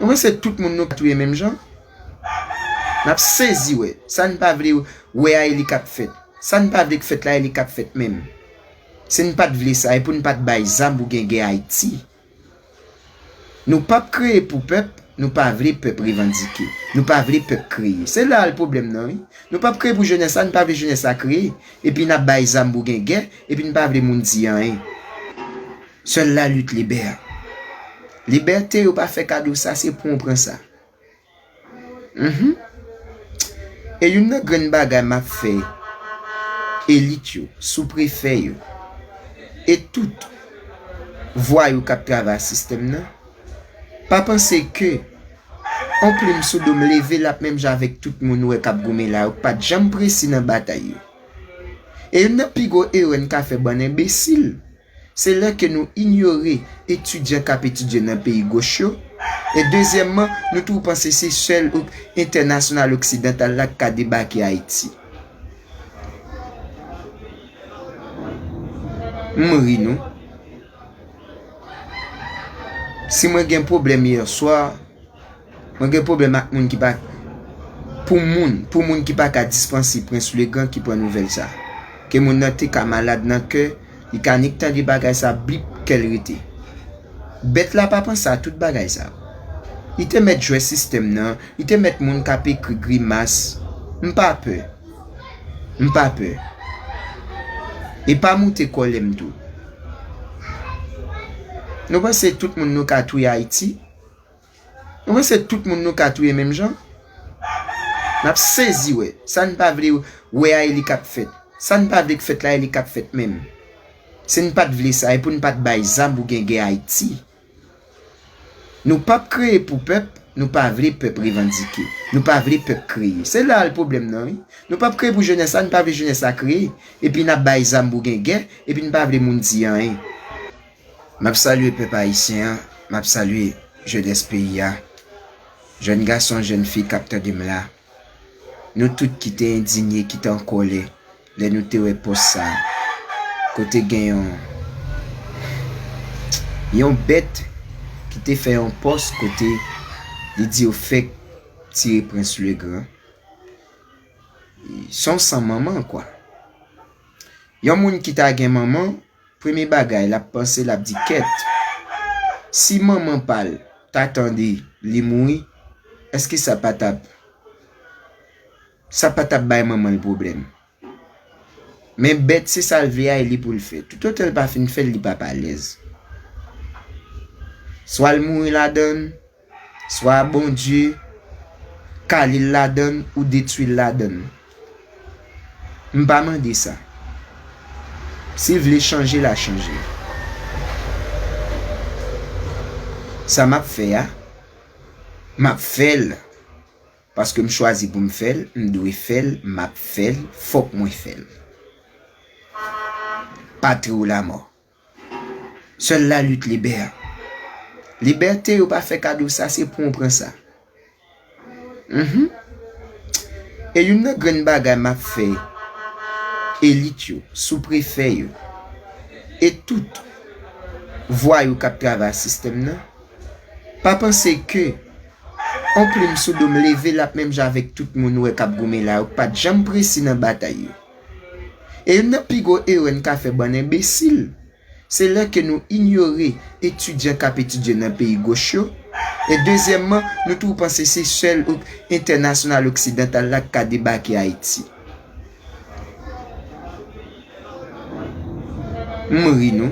Ou panse tout moun nou touye menm jan? Nap sezi wè. Sa n pa vle wè a e li kap fèt. Sa n pa vle k fèt la e li kap fèt menm. Si n pat vle sa e pou n pat bay zam pou gen gè Ayiti. Nou pap kreye pou pèp, nou pa vle pèp revandike. Nou pa vle pèp kreye. Se la l pwoblèm nan wi. Nou pap kreye pou jenès la, nou pa vle jenès la kreye. Epi nap bay zam pou gen gè, epi n pa vle moun di anyen. Sèl la lit libè. Libète yo pa fè kado sa se pran w pran sa. Mph. E youn nan grenn bagay map fè elit yo, sou prefè yo e tout vwayou kap travay a sistèm nan, pa panse ke on plim sou do m leve lap menm jan avèk tout moun ou wè kap goumen la yo k pat janm presi nan batay yo. E youn nan pi gwo erè n ka fè bann enbesil. Se lè ke nou inyore etidyan kap etidye nan peyi goch yo, e dezyèmman nou tou panse se sèl entènasyonal oksidantal la k ka debake Ayiti. M ri nou. Si mwen gen pwoblèm yèswa. Mwen gen pwoblèm ak moun ki pa Pou moun Pou moun ki pa ka dispansi Prince le grand ki pran nouvèl sa Ke moun nan te ka malad nan kè Li ka nik tande bagay sa Blip kèl rete Bèt la pa panse a tout bagay sa Li te mèt jwè sistèm nan Li te mèt moun kap ekri grimas M pa pè M pa pè E pa moute kòlè m tou Nou panse tout moun nou ka touye Ayiti? Ou panse tout moun nou ka touye menm jan? N ap sezi wè. Sa n pa vle wè a e li k ap fèt. Sa n pa vle k fèt la e li k ap fèt menm. Si n pa t vle sa e pou n pa t bay zam pou gen gè Ayiti. Nou p ap kreye pou pèp, nou pa vle pèp revandike. Nou pa vle pèp kreye. Se la l pwoblèm nan wi. Nou p ap kreye pou jenès la, nou pa vle jenès la kreye. Epi n ap bay zam pou gen gè, epi n pa vle moun di anyen. Map salye pèp ayisyen an, map salye jenès peyi a, jèn gason, jèn fi kap tande m la, nou tout ki te endinye, ki te an kòlè lè nou te wè pòs sa a kote gen yon yon bèt ki te fè yon pòs kote li di yo fèk tire prens le gran son san manman kwa yon moun ki ta gen manman premye bagay lap panse lap di kèt si manman pal ta tande li mouri eske sa pa tap sa pa tap bay manmanl pwoblèm men bèt se sal vle a e li poul fè tout otan li pa fin fèl li pap alèz swal mouri ladann Swa Bondye kale l ladan l ou detwi l ladan l. M pa mande sa. Si l vle chanje l a chanje. Sa m ap fè a, m ap fè l paske m chwazi pou m fè l, m dwe fè l, m ap fè l, fòk mwen fè l. Patri w lamò. Sèl la lit libè. Libète yo pa fè kado sa se pou ou pran sa. E youn nan grenn bagay m ap fè elit yo, sou prefè yo, e tout vwayou k ap travay ak sistèm nan, pa panse ke yon plim sou do m leve l ap menm jan avèk tout moun ou wè k ap goumen la yo k pa t janm presi nan batay yo. E youn nan pi gwo erè n ka fè bann enbesil, se lè ke nou inyore etidyan k ap etidye nan peyi goch yo, e dezyèmman, nou toujou panse se sèl entènasyonal oksidantal la k ka debake Ayiti. M ri nou.